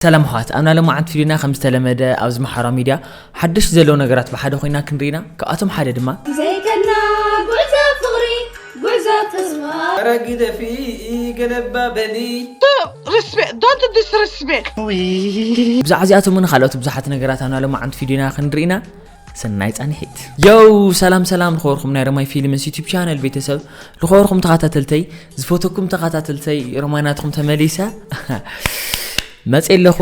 ሰላም ኣሕዋት ኣብና ለማዓንቲ ቪድዮና ከም ዝተለመደ ኣብዚ ማሕበራዊ ሚድያ ሓደሽቲ ዘለዉ ነገራት ብሓደ ኮይና ክንርኢ ኢና ካብኣቶም ሓደ ድማ ዘይከድና ጉዕዞ ፍቕሪ ጉዕዞ ተስፋ ኧረ ግደፊ ገለባ በሊ respect. Don't disrespect. ብዛዕባ እዚኣቶምን ካልኦት ብዙሓት ነገራት ኣብና ለማዓንቲ ቪድዮና ክንርኢ ኢና ሰናይ ጻንሒት የው ሰላም ሰላም ልኸበርኩም ናይ ረማይ ፊልምስ ዩቲብ ቻነል ቤተሰብ ልኸበርኩም ተኸታተልተይ ዝፈተኩም ተኸታተልተይ ረማይ ናትኩም ተመሊሰ መፅ ኣለኹ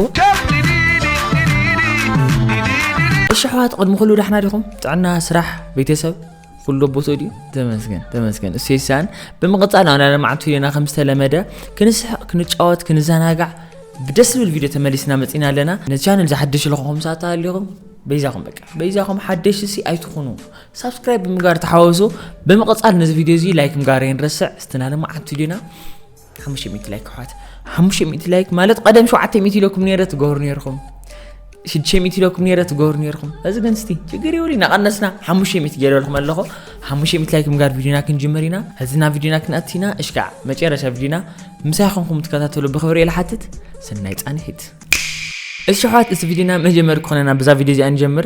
እሺ ኣሕዋት ቅድሚ ኩሉ ዳሕና ዲኹም ጥዕና ስራሕ ቤተሰብ ኩሉ ኣቦቶ ድዩ ተመስገን ተመስገን እሱ ይሳን ብምቕፃል ኣና ለማዕቱ ዮና ከም ዝተለመደ ክንስሕቕ ክንጫወት ክንዘናጋዕ ብደስ ዝብል ቪድዮ ተመሊስና መፂና ኣለና ንቻነል ዝሓደሽ ልኹኹም ሳታ ኣለኹም በይዛኹም በቃ በይዛኹም ሓደሽ ሲ ኣይትኹኑ ሳብስክራይብ ብምጋር ተሓወሱ ብምቕፃል ነዚ ቪድዮ እዚ ላይክ ምጋር የንረስዕ ስትናለማ ዓቱ ድዩና ሓሙሽተ ሚእቲ ላይክ ኣሕዋት ሓሙሽተ ሚእቲ ላይክ ማለት ቀደም ሸውዓተ ሚእቲ ኢለኩም ነይረ ትገብሩ ነይርኹም ሽዱሽተ ሚእቲ ኢለኩም ነይረ ትገብሩ ነይርኹም እዚ ግን ስቲ ችግር ይብሉ እናቐነስና ሓሙሽተ ሚእቲ ገይረልኩም ኣለኹ ሓሙሽተ ሚእቲ ላይክ ምጋር ቪድዮና ክንጅምር ኢና ሕዚ ናብ ቪድዮና ክንኣቲ ኢና እሽካዕ መጨረሻ ቪድዮና ምሳይ ኮንኩም ትከታተሉ ብክብሪ እየ ልሓትት ሰናይ ፃንሒት እሺ ኣሕዋት እዚ ቪድዮና መጀመሪ ክኾነና ብዛ ቪድዮ እዚኣ ንጀምር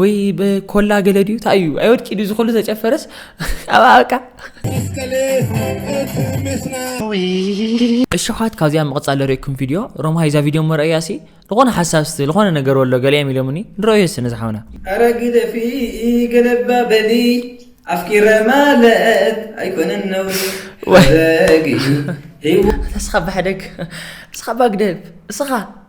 ወይ በኮላ ገለ ድዩ እንታይ እዩ ኣይወድቂ ድዩ ዝኩሉ ተጨፈረስ ኣባቃ እሽኻት ካብዚኣ ምቕፃል ርእኩም ቪድዮ ሮማ ይዛ ቪድዮ መርኣያሲ ዝኾነ ሓሳብ ስቲ ዝኾነ ነገር ወሎ ገሊኦም ኢሎምኒ ንረእዮ ስነ ዝሓውና ኣረ ግደፊ ገለባ በሊ ኣፍቂረ ማለት ኣይኮነን ነው ሕደጊ ተስኻ ባሕደግ እስኻ ባግደብ እስኻ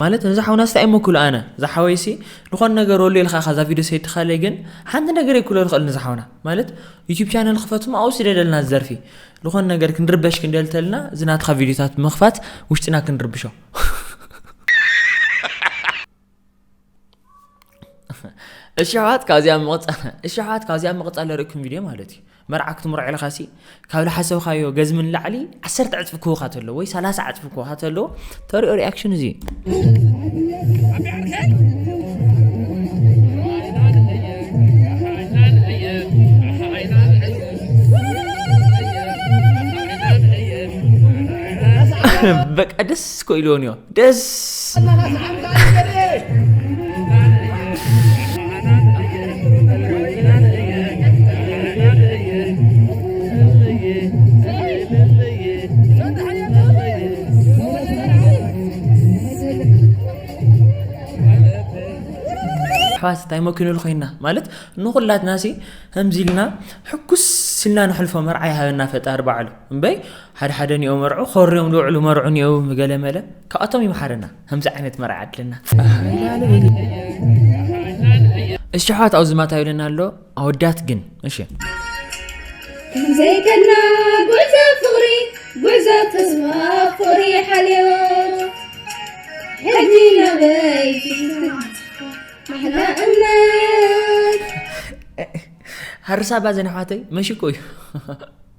ማለት ነዚ ሓውና ስታይ እሞ ክብሎ ኣነ እዛ ሓወይሲ ዝኾነ ነገር ወሉ ኢልካ ካዛ ቪድዮ ሰይድካለይ ግን ሓንቲ ነገር ይክሎ ንኽእል ንዚ ሓውና ማለት ዩቲብ ቻነል ክፈትሞ ኣብኡ ስደደልና ዝዘርፊ ዝኾነ ነገር ክንርበሽ ክንደልተልና እዚ ናትኻ ቪድዮታት ምኽፋት ውሽጥና ክንርብሾ እሺ ኣሕዋት ካብዚኣ ምቕፃል እሺ ኣሕዋት ካብዚኣ ምቕፃል ዘርእኩም ቪድዮ ማለት እዩ መርዓ ክትምርዖ ኢልካ ሲ ካብ ዝሓሰብካዮ ገዝሚ ንላዕሊ ዓሰርተ ዕፅፊ ክህቡካ ተሎ ወይ ሰላሳ ዕፅፊ ክህቡካ ተሎ ተሪኦ ሪኣክሽን እዚ እዩ በቃ ደስ ኮ ኢልዎን እዮ ኣሕዋት እንታይ መኪኑ ኮይና ማለት ንኩላትና ሲ ከምዚ ኢልና ሕኩስ ኢልና ንሕልፎ መርዓ ይሃበና ፈጣሪ ባዕሉ እምበይ ሓደ ሓደ ኒኦ መርዑ ኮርዮም ዝውዕሉ መርዑ ኒኦ ገለ መለ ካብኣቶም ይምሓረና ከምዚ ዓይነት መርዓ ኣድልና እሺ ኣሕዋት ኣብዚ ማታ ይብለና ኣሎ ኣወዳት ግን እሺ ዘይከና ጉዕዞ ፍቕሪ ጉዕዞ ተስፋ ፍቕሪ ሓልዮ ሕጂ ናበይ ማሕላ እምነት ሃርሳባ ዘነሕዋተይ መሽኮ እዩ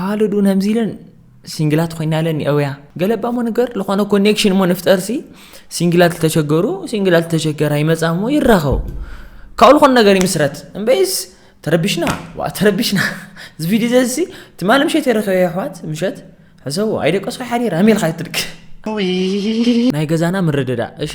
ኣዋልድ እውን ከምዚ ኢለን ሲንግላት ኮይና ለን የውያ ገለባ ሞ ነገር ዝኾነ ኮኔክሽን ሞ ንፍጠር ሲ ሲንግላት ዝተሸገሩ ሲንግላት ዝተሸገራ ይመፃ ሞ ይራኸቡ ካብኡ ዝኾነ ነገር ይምስረት እምበይስ ተረቢሽና ዋ ተረቢሽና እዚ ቪድዮ ዘዚ ትማሊ ምሸት የረኸበ ኣሕዋት ምሸት ሕሰቡ ኣይደቀሶ ሓዲር ኣሜልካ ይትድክ ናይ ገዛና ምርድዳ እሺ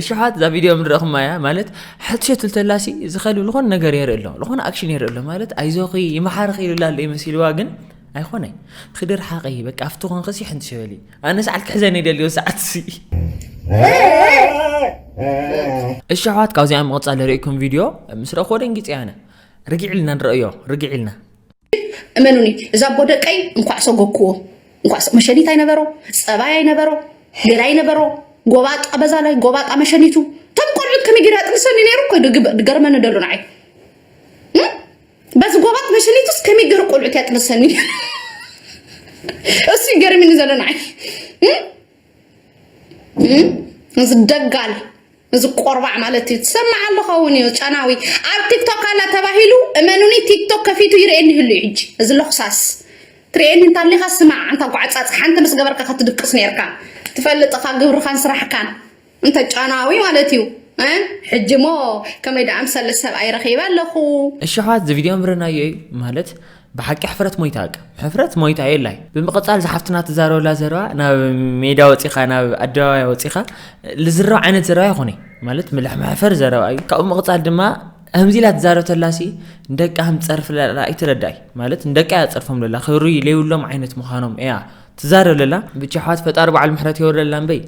እሽሓት እዛ ቪድዮ ምድረኹማ እያ ማለት ሕትሸት ልተላሲ ዝኸል ዝኾነ ነገር የርኢ ኣሎ ዝኾነ ኣክሽን የርኢ ኣሎ ማለት ኣይዞኺ ይመሓርኺ ይልላ ኣሎ ይመሲልዋ ግን ኣይኮነይ ክድር ሓቂ በቃ ኣብቲ ኮንክ ሲ ሕንቲ ሸበሊ ኣነ ሰዓት ክሕዘን ይደልዮ ሰዓት ሲ እሺ ኣሕዋት ካብዚኣ ምቕፃል ርእኩም ቪድዮ ምስ ረኽቦ ደንጊፀ ያነ ርግዒ ኢልና ንረእዮ ርግዒ ኢልና እመኑኒ እዛ ኣቦ ደቀይ እንኳዕ ሰጎክዎ እንኳዕ መሸኒት ኣይነበሮ ፀባይ ኣይነበሮ ገላ ኣይነበሮ ጎባጣ በዛ ላይ ጎባጣ መሸኒቱ ተም ቆልዑት ከመይ ጌራ ጥንሰኒ ነይሩ እኮ ገርመኒ ደሎ ንዓይ በዚ ጎባት መሸኒቱስ ከመይ ገሩ ቆልዑት እያ ጥንሰኒ እሱ ገርሚኒ ዘሎ ንዓይ እዚ ደጋል እዚ ቆርባዕ ማለት እዩ ትሰምዕ ኣለኻ እውን እዩ ጨናዊ ኣብ ቲክቶክ ኣላ ተባሂሉ እመኑኒ ቲክቶክ ከፊቱ ይርእየኒ ይህሉ እዩ ሕጂ እዚ ለኽሳስ ትርእየኒ እንታሊኻ ስማዕ ኣንታ ጓዕፃፅ ሓንቲ ምስ ገበርካ ከትድቅስ ነርካ ትፈልጥኻ ግብርኻን ስራሕካን እንተ ጫናዊ ማለት እዩ ሕጂ እሞ ከመይ ደኣ ኣምሰለ ሰብኣይ ረኺበ ኣለኹ። እሺ ኣሕዋት እዚ ቪድዮ ምርናዮ እዩ ማለት ብሓቂ ሕፍረት ሞይታ ኣቅ ሕፍረት ሞይታ የላይ ብምቕጻል ዝሓፍትና ትዛረበላ ዘረባ ናብ ሜዳ ወጺኻ ናብ ኣደባባያ ወጺኻ ልዝረብ ዓይነት ዘረባ ይኾነ ማለት ምልሕ መሕፈር ዘረባ እዩ ካብኡ ምቕጻል ድማ ከምዚ ኢላ ትዛረብ ተላሲ ንደቃ ከም ትጸርፍ ለላ ኣይትረዳይ ማለት ንደቃ እያ ትጸርፎም ለላ ክብሪ ለይብሎም ዓይነት ምዃኖም እያ ትዛረብ ለላ ብቻ ኣሕዋት ፈጣሪ በዓል ምሕረት የወርደልና እምበይ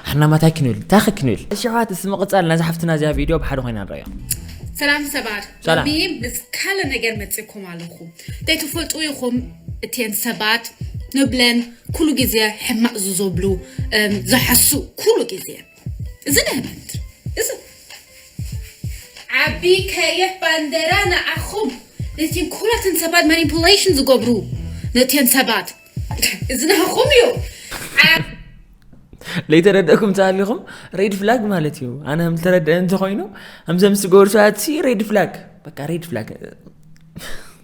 ሕና ማታይ ክንብል እንታይ ከ ክንብል እሺ ኣሕዋት እስ ምቕፃል ናዛ ሓፍትና እዚኣ ቪድዮ ብሓደ ኮይና ንረዮ ሰላም ሰባት ሰላም። ሎሚ ምስ ካለ ነገር መፅእኩም ኣለኹ እንታይ ትፈልጡ ኢኹም እተን ሰባት ንብለን ኩሉ ግዜ ሕማቕ ዝዘብሉ እም፣ ዝሓሱ ኩሉ ግዜ እዚ ናይ ባንድ እዚ ዓቢ ከይሕ ባንደራ ንዓኹም ነቲን ኩላትን ሰባት ማኒፕሌሽን ዝገብሩ ነቲን ሰባት እዚ ናኹም እዩ ለይተረደእኩም ተሃሊኹም ሬድ ፍላግ ማለት እዩ ኣነ ከም ተረደአ እንተኮይኑ ከምዘም ዝገበሩ ሰባትሲ ሬድ ፍላግ በቃ ሬድ ፍላግ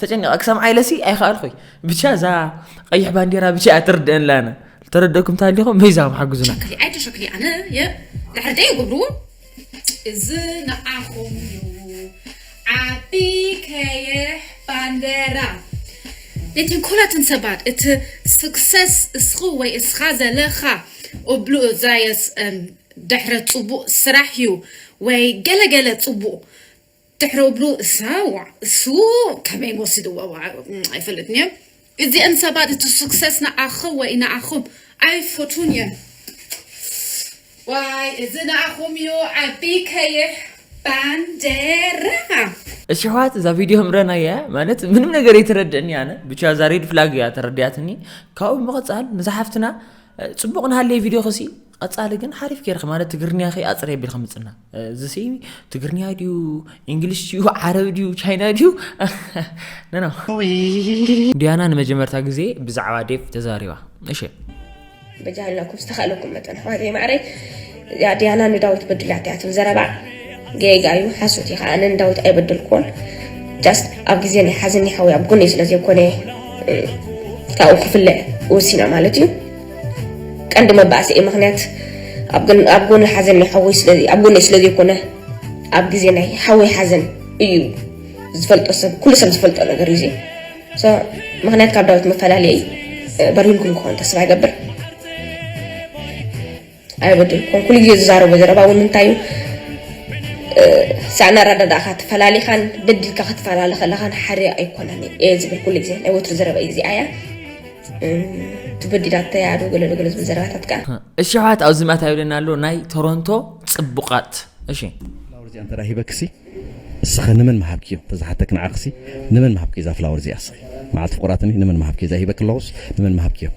ተጨንቀ ክሰምዓ ኢለሲ ኣይኸኣልኹይ ብቻ እዛ ቀይሕ ባንዴራ ብቻ እያ ትርድአላ ኣነ ተረደኩም ታሊኹም መይዛም ሓግዙና ኣይተሸክሊ ኣነ ድሕሪ ደይ ጉብሩ እዚ ንዓኹም እዩ ዓቢ ከይሕ ባንዴራ ንትንኮላትን ሰባት እቲ ስክሰስ እስኹ ወይ እስኻ ዘለኻ እብሉ እዛየስ ድሕረ ፅቡቅ ስራሕ እዩ ወይ ገለገለ ፅቡቅ ድሕሪ እብሉ እሰ ዋእ እሱ ከመይ ወሲድዎ ዋእ ኣይፈልጥን እየ እዚኤን ሰባት እቲ ሱክሰስ ንኣኸ ወይ ንኣኹም ኣይፈቱን እየ ዋይ እዚ ንኣኹም እዩ ዓቢ ከይሕ ባንዴራ እሺ ኣሕዋት እዛ ቪድዮ ምረና እያ ማለት ምንም ነገር የተረድእኒ ኣነ ብቻ እዛ ሬድ ፍላግ እያ ተረድያትኒ ካብኡ ምቕፃል ንዛ ሓፍትና ፅቡቕ ንሃለየ ቪድዮ ክሲ ቐፃሊ ግን ሓሪፍ ገይርኺ ማለት ትግርንያኺ ኣፅሪ ኣቢልኺ ምፅና እዚሲ ትግርንያ ድዩ እንግሊሽ ድዩ ዓረብ ድዩ ቻይና ድዩ ነኖ ዲያና ንመጀመርታ ግዜ ብዛዕባ ዴቭ ተዛሪባ እሺ በጃላኩም ዝተኻለኩም መጠን ኣሕዋተይ ማዕረይ እዚኣ ዲያና ንዳዊት በድላታ እያ ትብል ዘረባ ጌጋ እዩ ሓሶት እዩ ከዓ ንዳዊት ኣይበደልኩዎን ጃስት ኣብ ግዜ ናይ ሓዘኒ ሓወይ ኣብ ጎነይ ስለ ዘይኮነ ካብኡ ክፍለ ወሲና ማለት እዩ ቀንዲ መባእሰኤ ምክንያት ኣብ ጎኒ ሓዘን ናይ ሓወይ ስለ ኣብ ጎነይ ስለ ዘይኮነ ኣብ ግዜ ናይ ሓወይ ሓዘን እዩ ዝፈልጦ ሰብ ኩሉ ሰብ ዝፈልጦ ነገር እዩ ምክንያት ካብ ዳዊት መፈላለየ እዩ በሪህልኩም ክኾን ተስፋ ይገብር ኣይበደልኩን ኩሉ ግዜ ዝዛረቦ ዘረባ እውን እንታይ እዩ ሳዕና ኣረዳዳእካ ተፈላሊኻን በዲልካ ክትፈላለ ከለኻን ሓደ ኣይኮነን እየ ዝብል ኩሉ ግዜ ናይ ወትሪ ዘረባ እዩ እዚኣ እያ ትበዲላት ተያዶ ገለሎ ገለ ዝብል ዘረባታት ከዓ እሺ ሕዋት ኣብዚ ማታ ይብለና ኣሎ ናይ ቶሮንቶ ፅቡቃት እሺ ፍላወር እዚኣ እንተ ሂበክሲ እስኸ ንመን መሃብኪ እዮም ተዝሓተክ ንዓክሲ ንመን መሃብኪ እዛ ፍላወር እዚኣ እስኺ መዓልቲ ፍቁራትኒ ንመን መሃብኪ እዛ ሂበክ ኣለኹስ ንመን መሃብኪ እዮም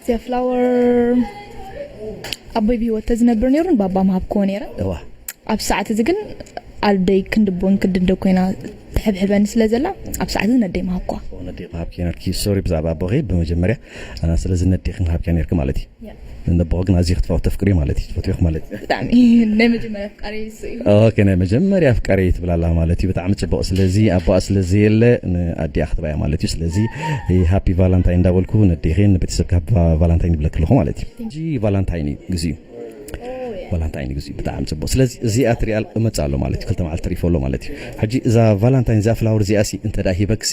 እዚኣ ፍላወር ኣቦይ ብሂወት ተዝነብር ነይሩ ንባባ ምሃብክዎ ነይረ እዋ ኣብዚ ሰዓት እዚ ግን ኣደይ ክንዲ ቡን ክንዲ እንዶ ኮይና ትሕብሕበኒ ስለ ዘላ ኣብ ሰዓት እዚ ነደይ ምሃብክዋ ኦ ነዴኺ ምሃብክዮ ነርኪ ሶሪ ብዛዕባ ኣቦኺ ብመጀመርያ እ፣ ስለዚ ነዴኺ ምሃብክያ ነርኪ ማለት እዩ ያ ነቦኺ ግን ኣዝዪ ክትፋ ተፍቅርዮ ማለት እዩ ትፈትዊኺ ማለት እዩ ብጣዕሚ ናይ መጀመርያ ኣፍቃሪይ ኦኬ ናይ መጀመርያ ኣፍቃሪ ትብል ኣላ ማለት እዩ ብጣዕሚ ፅቡቅ ስለዚ ኣቦኣ ስለ ዘየለ ንኣዲኣ ክትባያ ማለት እዩ ስለዚ ሃፒ ቫላንታይን እንዳበልኩ ነዴኺን ንቤተሰብካ ሃፒ ቫላንታይን ይብለክ ኣለኹ ማለት እዩ እዚ ቫላንታይን እዩ ግዜኡ ቫላንታይን ግዜኡ ብጣዕሚ ፅቡቅ ስለዚ እዚኣ ትሪኣ እመፅእ ኣሎ ማለት እዩ ክልተ መዓልቲ ተሪፎ ኣሎ ማለት እዩ ሕጂ እዛ ቫላንታይን እዚኣ ፍላወር እዚኣ ሲ እንተ ሂበክሲ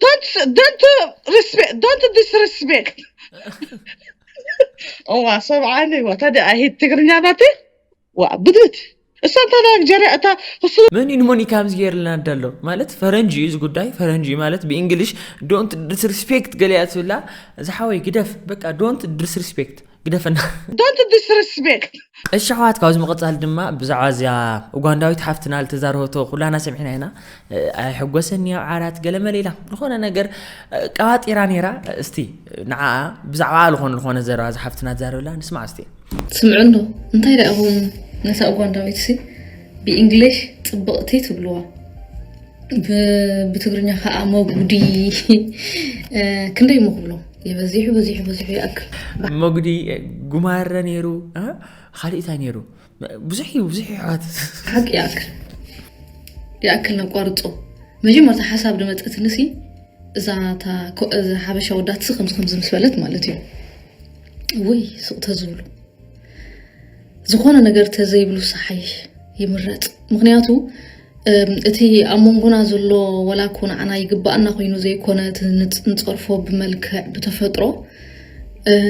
Don't don't uh, respect. Don't disrespect. እዋ ሰብዓኒ እዋ ታዲያ ኣይሂድ ትግርኛ ናቲ ዋ ብድት እሳ እንታ ናይጀርያ እታ ክሱ መን እዩ ንሞኒካ ኣብዚ ገይርልና ኣዳ ኣሎ ማለት ፈረንጂ እዩ እዚ ጉዳይ ፈረንጂ እዩ ማለት ብእንግሊሽ ዶንት ዲስሪስፔክት ገሊያ ትብላ ዝሓወይ ግደፍ በቃ ዶንት ዲስሪስፔክት ግደፈና። Don't disrespect! እሺ ኣሕዋት ካብዚ ምቕጻል ድማ ብዛዕባ እዚኣ ኡጋንዳዊት ሓፍትና ዝተዛረበቶ ኩላና ሰሚዕና ኢና ኣይሕጎሰኒ ኣብ ዓራት ገለመለ ኢላ ዝኾነ ነገር ቀባጢራ ነይራ እስቲ ንዓኣ ብዛዕባ ዝኾነ ዝኾነ ዘረባ እዚ ሓፍትና ትዛረብላ ንስማዕ እስቲ ስምዑ ኣሎ እንታይ ደኣ እኹም ነታ ኡጋንዳዊት ሲ ብእንግሊሽ ጽብቕቲ ትብልዋ ብትግርኛ ከዓ መጉዲ ክንደይ እሞ ክብሎ የበዚሑ በዚሑ በዚሑ ይኣክል መጉዲ ጉማረ ነይሩ ካልእ እንታይ ነይሩ ብዙሕ እዩ ብዙሕ ይሕዋት ሓቂ ይኣክል ይኣክል ነቋርፆ መጀመርታ ሓሳብ ድመፀትኒ ሲ እዛ ሓበሻ ወዳትሲ ከምዚ ከምዚ ምስ በለት ማለት እዩ ወይ ስቕ ተዝብሉ ዝኾነ ነገር ተዘይብሉ ሳሓይሽ ይምረፅ ምክንያቱ እቲ ኣብ መንጎና ዘሎ ወላ እኮ ንዓና ይግባኣና ኮይኑ ዘይኮነ እቲ ንፀርፎ ብመልክዕ ብተፈጥሮ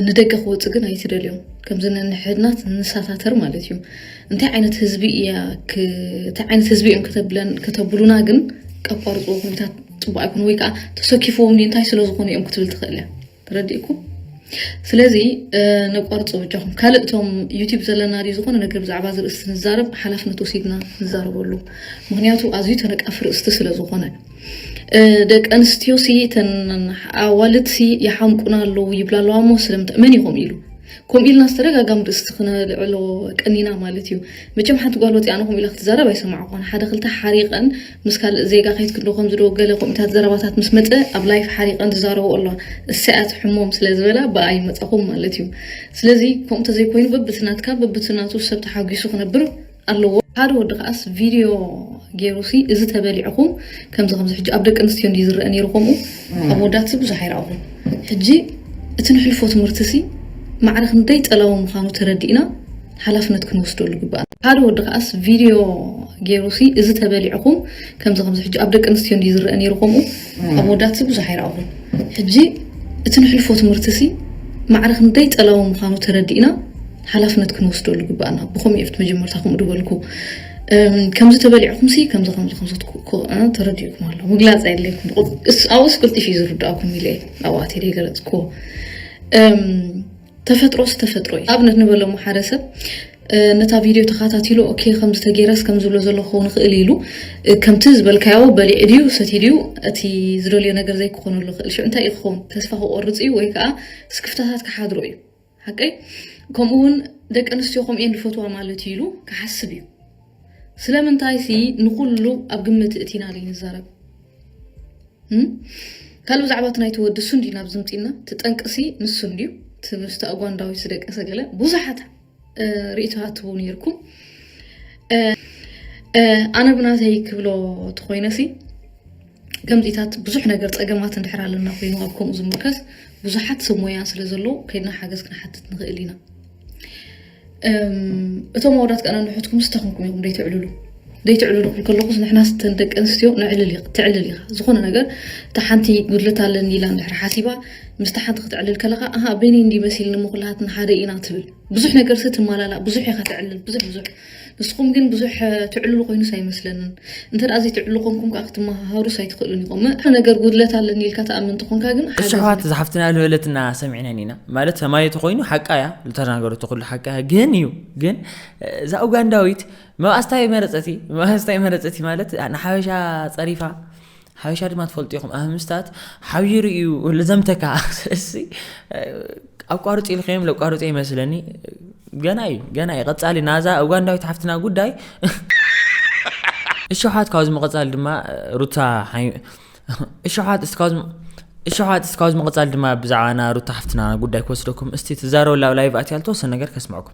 ንደገ ክወፅእ ግን ኣይትደልዮ ከምዚ ነንሕድናት ንሳታተር ማለት እዩ እንታይ ዓይነት ህዝቢ እያ እንታይ ዓይነት ህዝቢ እዮም ከተብሉና ግን ቀቋርፅዎ ኮሚታት ፅቡቅ ኣይኮነ ወይ ከዓ ተሰኪፍዎም እንታይ ስለዝኮኑ እዮም ክትብል ትኽእል እያ ተረዲእኩም ስለዚ ነቋርጾ በጃኹም። ካልእ እቶም ዩቲብ ዘለና ድዩ ዝኾነ ነገር ብዛዕባ እዚ ርእስቲ ንዛረብ ሓላፍነት ወሲድና ንዛረበሉ ምኽንያቱ ኣዝዩ ተነቃፊ ርእስቲ ስለ ዝኾነ ደቂ ኣንስትዮ ሲ እተን ኣዋልድ ሲ ይሓምቁና ኣለዉ ይብላ ኣለዋ እሞ ስለምንታይ መን ይኹም ኢሉ ከምኡ ኢልና ዝተደጋጋሚ ርእስቲ ክነልዕሎ ቀኒና ማለት እዩ መቸም ሓንቲ ጓል ወፂኣ ንኹም ኢላ ክትዛረብ ኣይሰማዕኳን ሓደ ክልተ ሓሪቀን ምስ ካልእ ዜጋ ከይትክ ዶ ከምዚ ዶ ገለ ከምኡታት ዘረባታት ምስ መጸ ኣብ ላይፍ ሓሪቀን ዝዛረቦ ኣለዋ እሰያስ ሕሞም ስለ ዝበላ ብኣ ይመጻኹም ማለት እዩ ስለዚ ከምኡ ተዘይ ኮይኑ በብቲ ናትካ በብቲ ናቱ ሰብ ተሓጊሱ ክነብር ኣለዎ። ሓደ ወዲ ከኣስ ቪድዮ ጌሩ ሲ እዚ ተበሊዕኹም ከምዚ ከምዚ ሕጂ ኣብ ደቂ ኣንስትዮ እንድዩ ዝረኣ ኔሩ ከምኡ ኣብ ኣወዳት ሲ ብዙሕ ኣይረኣኹን ሕጂ እቲ ንሕልፎ ትምህርቲ ሲ ማዕረ ክንደይ ጸላዊ ምዃኑ ተረዲእና ሓላፍነት ክንወስደሉ ግባእ። ሓደ ወዲ ከኣስ ቪድዮ ገይሩ ሲ እዚ ተበሊዕኹም ከምዚ ከምዚ ሕጂ ኣብ ደቂ ኣንስትዮ እንዲ ዝረአ ነይሩ ከምኡ ኣብ ወዳት ሲ ብዙሕ ኣይረኣኹን ሕጂ እቲ ንሕልፎ ትምህርቲ ሲ ማዕረ ክንደይ ጸላዊ ምዃኑ ተረዲእና ሓላፍነት ክንወስደሉ ግባእና ብኸምኡ እየ መጀመርታ ከምኡ ድበልኩ ከምዚ ተበሊዕኩም ሲ ከምዚ ከምዚ ከምዚ ተረዲእኩም ኣሎ ምግላፅ ኣየድለይኩም ኣብኡስ ቅልጢፍ እዩ ዝርዳእኩም ኢለ ኣብኣ ገለፅኩዎ ተፈጥሮስ ተፈጥሮ እዩ ኣብነት ንበሎ መሓረ ሰብ ነታ ቪድዮ ተኸታቲሉ ኦኬ ከምዚ ተገይረስ ከም ዝብሎ ዘሎ ክኸውን ይኽእል ኢሉ ከምቲ ዝበልካዮ በሊዑ ድዩ ሰቲ ድዩ እቲ ዝደልዮ ነገር ዘይክኾነሉ ይኽእል ሽዑ እንታይ እዩ ክኸውን ተስፋ ክቆርፅ እዩ ወይ ከዓ ስክፍታታት ክሓድሮ እዩ ሓቀይ ከምኡ እውን ደቂ ኣንስትዮ ከምኡ እየን ዝፈትዋ ማለት እዩ ኢሉ ክሓስብ እዩ ስለምንታይሲ ንኹሉ ኣብ ግምት እእቲና ዘይንዛረብ ካልእ ብዛዕባ እቲ ናይቲ ወዲ እሱ እንዲና ኣብዚ ምፂና እቲ ጠንቅሲ ንሱ እንድዩ እቲ ምስቲ ኣጓንዳዊት ዝደቀሰ ገለ ብዙሓት ርእቶ ሃትቡ ነይርኩም ኣነ ብናተይ ክብሎ ተኮይነሲ ከምዚታት ብዙሕ ነገር ፀገማት እንድሕር ኣለና ኮይኑ ኣብ ከምኡ ዝምርከስ ብዙሓት ሰብ ሞያ ስለ ዘለዎ ከይድና ሓገዝ ክንሓትት ንኽእል ኢና እቶም ኣወዳት ቀና ንሑትኩም ስታኹምኩም ኢኹም ደይትዕልሉ ዘይትዕልሉ ክብል ከለኹስ ንሕና ስተን ደቂ ኣንስትዮ ንዕልል ትዕልል ኢኻ ዝኾነ ነገር እታ ሓንቲ ጉድለት ኣለኒ ኢላ እንድሕር ሓሲባ ምስቲ ሓንቲ ክትዕልል ከለኻ ኣሃ በይነይ እንዲ መሲልኒ እሞ ኩላሃትና ሓደ ኢና ትብል ብዙሕ ነገርሲ ትማላላእ ብዙሕ ኢኻ ትዕልል ብዙሕ ብዙሕ ንስኹም ግን ብዙሕ ትዕልሉ ኮይኑስ ኣይመስለንን። እንተ ዘይትዕሉ ኮንኩም ከኣ ክትመሃሃሩስ ኣይትኽእሉን ኢኹም። ንእኹ ነገር ጉድለት ኣለኒ ኢልካ ትኣምን ተኾንካ ግን ሓገዝ። እሺ ኣሕዋት ዝሓፍትና ዝበለትና ሰሚዕነን ኢና ማለት ሰማይ ተኮይኑ ሓቃ እያ ዝተናገረቶ ኩሉ ሓቃ እያ ግን እዩ ግን እዛ ኡጋንዳዊት መባእስታ መረፀቲ መባእስታ መረፀቲ ማለት ንሓበሻ ፀሪፋ ሓበሻ ድማ ትፈልጡ ኢኹም ኣህምስታት ሓቢሩ እዩ ልዘምተካ ስለዚ ኣቋርፂ ኢልከዮም ለቋርፀ ይመስለኒ ገና እዩ ገና እዩ ቀፃሊ ናዛ ኡጋንዳዊት ሓፍትና ጉዳይ እሸሓት ካብዚ መቐፃሊ ድማ ሩታ እሸሓት እስካዝ እሸሓት እስካዝ መቐፃሊ ድማ ብዛዕባና ሩታ ሓፍትና ጉዳይ ክወስደኩም እስቲ ትዛረበላ ኣብ ላይቭ ኣትያ ልተወሰነ ነገር ከስምዐኩም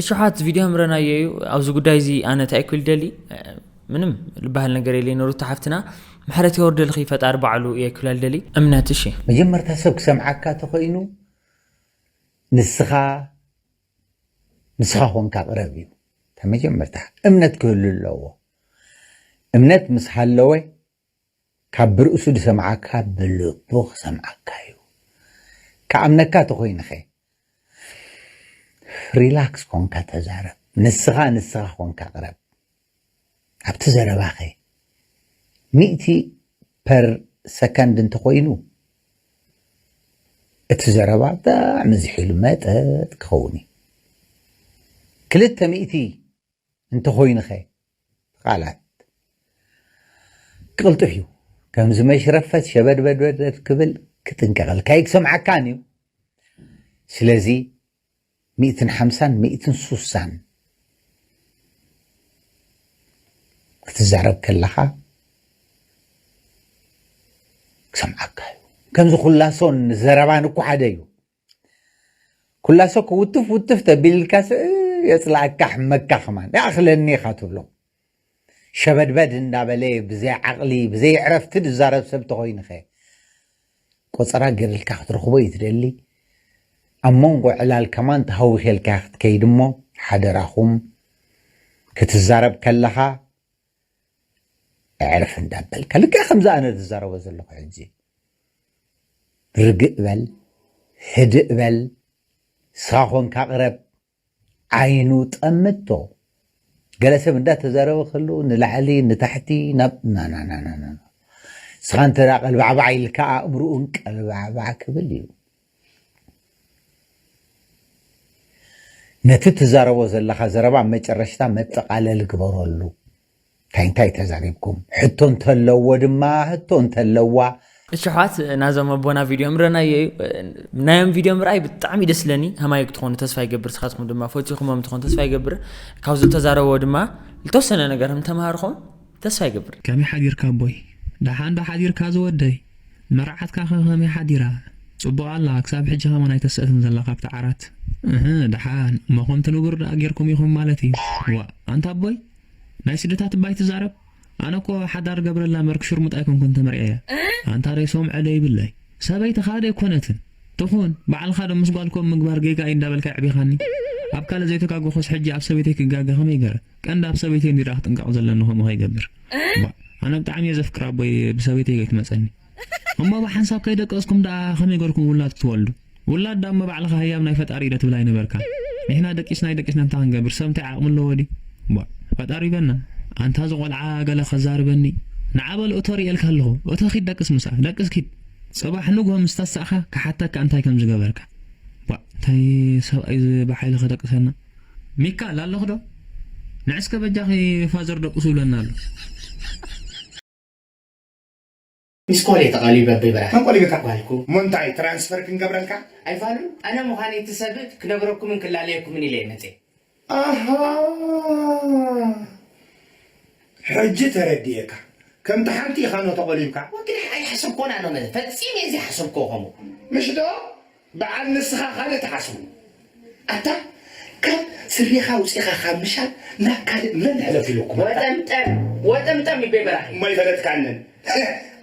እሽሓት ቪድዮ ምረናዮ እዩ ኣብዚ ጉዳይ እዚ ኣነ እንታይ ክብል ደሊ ምንም ዝበሃል ነገር የለይ ንሩታ ሓፍትና ምሕረት የወርደልኺ ፈጣሪ ባዕሉ እየ ክብለል ደሊ እምነት እሺ መጀመርታ ሰብ ክሰምዓካ ተኮይኑ ንስኻ ንስኻ ኮንካ ቅረብ እዩ መጀመርታ እምነት ክህሉ ኣለዎ እምነት ምስ ሃለወ ካብ ብርእሱ ድሰምዓካ ብልቡ ክሰምዓካ እዩ ክኣምነካ ተኮይኑከ ሪላክስ ኮንካ ተዛረብ ንስካ ንስካ ኮንካ ቅረብ ኣብቲ ዘረባከ ሚእቲ ፐር ሰከንድ እንተኮይኑ እቲ ዘረባ ብጣዕሚ ዝሒሉ መጠጥ ክከውን እዩ ክልተ ሚእቲ እንተኾይኑኸ ቃላት ቅልጡፍ እዩ ከምዚ መሽረፈት ሸበድበድበድ ክብል ክጥንቀቐልካ ይክሰምዓካን እዩ ስለዚ ሚእትን ሓምሳን ሚእትን ሱሳን ክትዛረብ ከለኻ ክሰምዓካ እዩ ከምዚ ኩላሶን ዘረባን እኮ ሓደ እዩ ኩላ ሰኩ ውትፍ ውትፍ ተቢልልካስ የፅላእካ ሕመካ ከማን ይኣኽለኒ ኢኻ ትብሎ ሸበድበድ እንዳበለ ብዘይ ዓቕሊ ብዘይ ዕረፍቲ ዝዛረብ ሰብ ተኾይንኸ ቆፀራ ገይርልካ ክትረኽቦ እዩ ትደሊ ኣብ መንጎ ዕላል ከማን ተሃዊኼልካ ክትከይድ እሞ ሓደራኹም ክትዛረብ ከለኻ ኣዕርፍ እንዳበልካ ልክዕ ከምዚ ኣነ ዝዛረቦ ዘለኹ ሕጂ ርግእ በል ህድእ በል ሳኾንካ ቅረብ ዓይኑ ጠምቶ ገለ ሰብ እንዳተዛረበ ከሉ ንላዕሊ ንታሕቲ ናብ ናናናናና ስኻ እንተ ቀልባዕባዕ ኢልካ ኣእምርኡን ቀልባዕባዕ ክብል እዩ ነቲ ትዛረቦ ዘለኻ ዘረባ ኣብ መጨረሽታ መጠቓለሊ ግበረሉ። እንታይ እንታይ ተዛሪብኩም? ሕቶ እንተለዎ ድማ ህቶ እንተለዋ። እሺ ኣሕዋት ናዞም ኣቦና ቪድዮ ምረናዮ እዩ ናዮም ቪድዮ ምርኣይ ብጣዕሚ ደስ ለኒ ከማይ ክትኾኑ ተስፋ ይገብር ስኻትኩም ድማ ፈቲኹሞም ትኾኑ ተስፋ ይገብር ካብ ዝተዛረቦ ድማ ዝተወሰነ ነገር እንተምሃርኹም ተስፋ ይገብር ከመይ ሓዲርካ ኣቦይ ደሓን ዶ ሓዲርካ ዝወደይ መርዓትካ ከ ከመይ ሓዲራ ጽቡቅ ኣላ ክሳብ ሕጂ ከማን ኣይተሰእትን ዘላ ካብቲ ዓራት እህ ደሓን እሞ ከምቲ ንቡር ደኣ ጌርኩም ኢኩም ማለት እዩ ዋእ ኣንታ ኣቦይ ናይ ስድታት እባ ኣይትዛረብ ኣነ እኮ ሓዳር ገብረላ መርክ ሽርሙጥ ኣይኮንኩን ተመርዕየ ኣንታ ደይ ሶምዐ ደይ ብለይ ሰበይትካ ደይ ኮነትን ትኩን ባዕልካ ዶ ምስ ጓልኩም ምግባር ጌጋ እዩ እንዳበልካ የዕቢካኒ ኣብ ካልእ ዘይተጋገኩስ ሕጂ ኣብ ሰበይተይ ክጋገ ከመይ ገረ ቀንዲ ኣብ ሰበይተይ እንድዳ ክጥንቀቅ ዘለኒ ከምኡ ከይገብር እባ ኣነ ብጣዕሚ እየ ዘፍቅር ኣቦይ ብሰበይተይ ከይትመጸኒ እሞ ብሓንሳብ ከይደቀስኩም ደኣ ከመይ ገርኩም ውላድ ክትወልዱ ውላድ ደኣ እሞ ባዕልካ ህያብ ናይ ፈጣሪ ኢደ ትብል ኣይነበርካን ንሕና ደቂስና ኣይደቂስና እንታይ ክንገብር ሰብ እንታይ ዓቅሚ ኣለዎ ድዩ እባ ፈጣሪ በና ኣንታ እዚ ቆልዓ ገለ ከዛርበኒ ንዓ በል እቶ ርእየልካ ኣለኹ እቶ ኪድ ደቅስ ምስኣ ደቅስ ኪድ ጽባሕ ንግሆ ምስ ተሳእካ ክሓተካ እንታይ ከም ዝገበርካ ባ እንታይ ሰብኣይ እዚ ብሓይሊ ከደቅሰና ሚካል ኣለኺ ዶ ንዕስከ በጃኺ ፋዘር ደቁሱ ይብለና ኣሎ። ምስ ኮል እየ ተቀሊበ ኣቦይ በራሕ መን ቆሊበካ ኣባልኩ እሞ እንታይ ትራንስፈር ክንገብረልካ ኣይፋሉን ኣነ ምዃነይ እቲ ሰብ ክነግረኩምን ክላለየኩምን ኢለ እየ መፅየ። ኣሃ ሕጂ ተረዲኤካ ከምቲ ሓንቲ ኢካ ኖ ተቆሊብካ። ወግናይ ኣይሓሰብኮን ኣነ ፈፂሜ ዘይሓሰብክዎ ከምኡ ምሽ ዶ። በዓል ንስኻ ካልእ ትሓስቡ ኣታ ካብ ስሪኻ ኣውጺኻ ካብ ምሻጥ ናብ ካልእ መን ሕለፍ ኢሉኩም ኣታ። ወጠምጠም ወጠምጠም ይቤ በራኺ። እሞ ኣይፈለጥካንን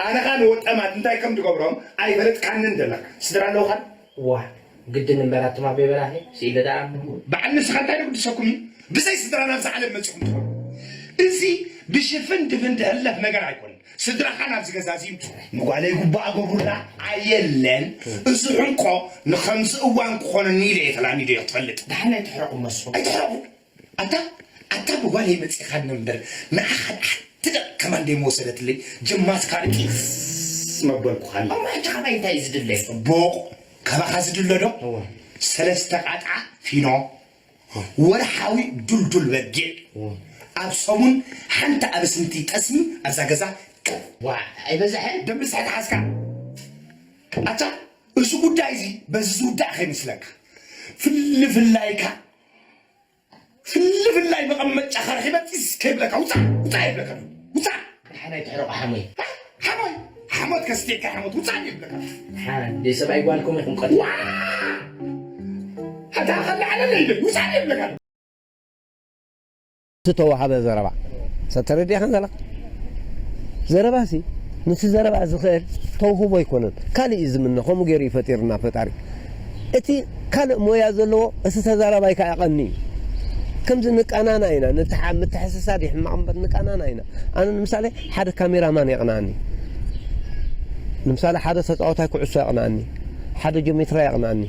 ኣነ ኻን ወጠማት እንታይ ከም ድገብሮም ኣይፈለጥካንን ደለኻ ስድራ ኣለውኻን። ዋይ ግድን እምበር ኣቱም ኣቤ በራኺ ስኢለ ደኣ። በዓል ንስኻ እንታይ ዶ ግድሰኩም እዩ ብዘይ ስድራ ናብዛ ዓለም መጺኹም ትኾኑ እዚ ብሽፍን ድፍን ድሕለፍ ነገር ኣይኮነን ስድራኻ ናብዚ ገዛ እዚ ይምፁ። ንጓለይ ጉባእ ኣጎብሩላ። ኣየለን እዚ ሕንቆ ንኸምዚ እዋን ክኾነኒ ኢለ እየ ተላሚደዮ ትፈልጥ። ደሓን ኣይትሕረቑ እመሱ ኣይትሕረቑ። ኣታ ኣታ ብጓለይ መፂእኻ ነምብር ንዓኻ ንሓንቲ ደቒቕ ከማን ደይምወሰደትለይ ጀማትካ ርቂዝዝዝ መበልኩኻ እሞ ሕጂ ካባይ እንታይ እዩ ዝድለ? ፅቡቕ ካባኻ ዝድለ ዶ ሰለስተ ቃጥዓ ፊኖ ወርሓዊ ዱልዱል በጊዕ ኣብ ሰሙን ሓንቲ ኣብስንቲ ጠስሚ ኣብዛ ገዛ ክብ። ዋእ ኣይበዘሐ ደም ብዝሒ ተሓዝካ ኣታ እዚ ጉዳይ እዚ በዚ ዝውዳእ ከይመስለካ ፍልፍላይካ ፍልፍላይ መቐመጫኻ ረኺበ ጢስ ከይብለካ ውፃእ ውፃእ የብለካ ውፃእ ዳሓናይ ትሕረቁ ሓሞይ ሓሞይ ሓሞት ከስቲካ ሓሞት ውጻኒ ይብለካ ሓ ደይ ሰብኣይ ጓል ከምኡ ይኹን ቀጥ ኣታ ከላዓለለይ ደይ ውጻኒ ይብለካ ዝተዋሃበ ዘረባ ሰብ ተረዲእኻን ዘለኻ ዘረባ ሲ ንቲ ዘረባ ዝኽእል ተውህቦ ኣይኮነን ካልእ እዩ ዝምነ ከምኡ ገይሩ እዩ ፈጢርና ፈጣሪ እቲ ካልእ ሞያ ዘለዎ እቲ ተዛራባይ ከዓ ቀኒ እዩ ከምዚ ንቃናና ኢና ንትሓ ምትሕስሳድ ይሕማቕ እምበር ንቃናና ኢና ኣነ ንምሳሌ ሓደ ካሜራ ማን የቅንኣኒ ንምሳሌ ሓደ ተጻዋታይ ኩዕሶ የቅንኣኒ ሓደ ጆሜትራ የቅንኣኒ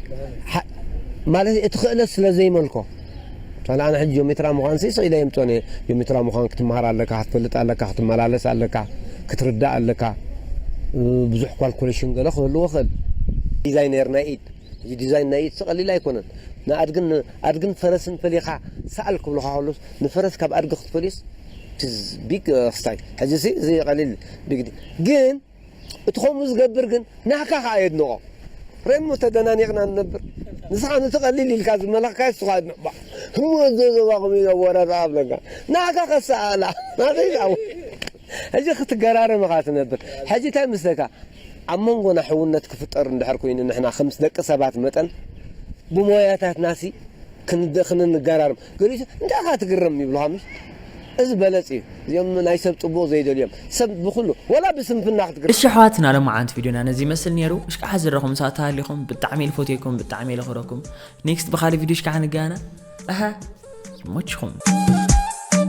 ማለት እቲ ክእለት ስለ ዘይመልኮ ምሳሌ ኣነ ሕጂ ጆሜትራ ምዃንሲ ስኢለ የምጽኦን እየ ጆሜትራ ምዃን ክትመሃር ኣለካ ክትፈልጥ ኣለካ ክትመላለስ ኣለካ ክትርዳእ ኣለካ ብዙሕ ኳልኩሌሽን ገለ ክህልዎ ክእል ዲዛይነር ናይ ኢድ እዚ ዲዛይን ናይ ኢድሲ ቀሊል ኣይኮነን ንኣድግን ኣድግን ፈረስን ፈሊኻ ሰኣል ክብልኻ ከሎስ ንፈረስ ካብ ኣድጊ ክትፈልዮስ ፕዝ ቢግ ክስታይ ሕጂ ሲ እዚ ቀሊል ቢግ ዲ ግን እቲ ከምኡ ዝገብር ግን ናህካ ከኣ የድንቆ ረሞ ተደናኒቅና ንነብር ንስኻ ነቲ ቀሊል ኢልካ ዝመለኽካዮ ንሱ ከኣ የድንቆ ባእ ህሙ ኣዞ ዞባ ከምኡ ኢሉ ኣወራርኣ ኣብለካ ናህካ ከሰኣላ ናተይ ዝኣው ሕጂ ክትገራርም ኢኻ ትነብር ሕጂ እንታይ ምስለካ ኣብ መንጎና ሕውነት ክፍጠር እንድሕር ኮይኑ ንሕና ከምስ ደቂ ሰባት መጠን ብሞያታትናሲ ክንገራርም ገሊኡ እንታይ ኢኻ ትግረም ይብሉኻ ምሽ እዚ በለጽ እዩ እዚኦም ናይ ሰብ ጽቡቕ ዘይደልዩ እዮም ሰብ ብኹሉ ወላ ብስንፍና ክትግረም እሺ ኣሕዋትና ሎምዓንቲ ቪድዮና ነዚ ይመስል ነይሩ እሽካዓ ዝረኹም ሰኣት ተሃሊኹም ብጣዕሚ ኢል ፎትየኩም ብጣዕሚ ኢል ኽረኩም ኔክስት ብኻሊ ቪድዮ እሽካዓ ንገያና ኣሀ ይሞችኹም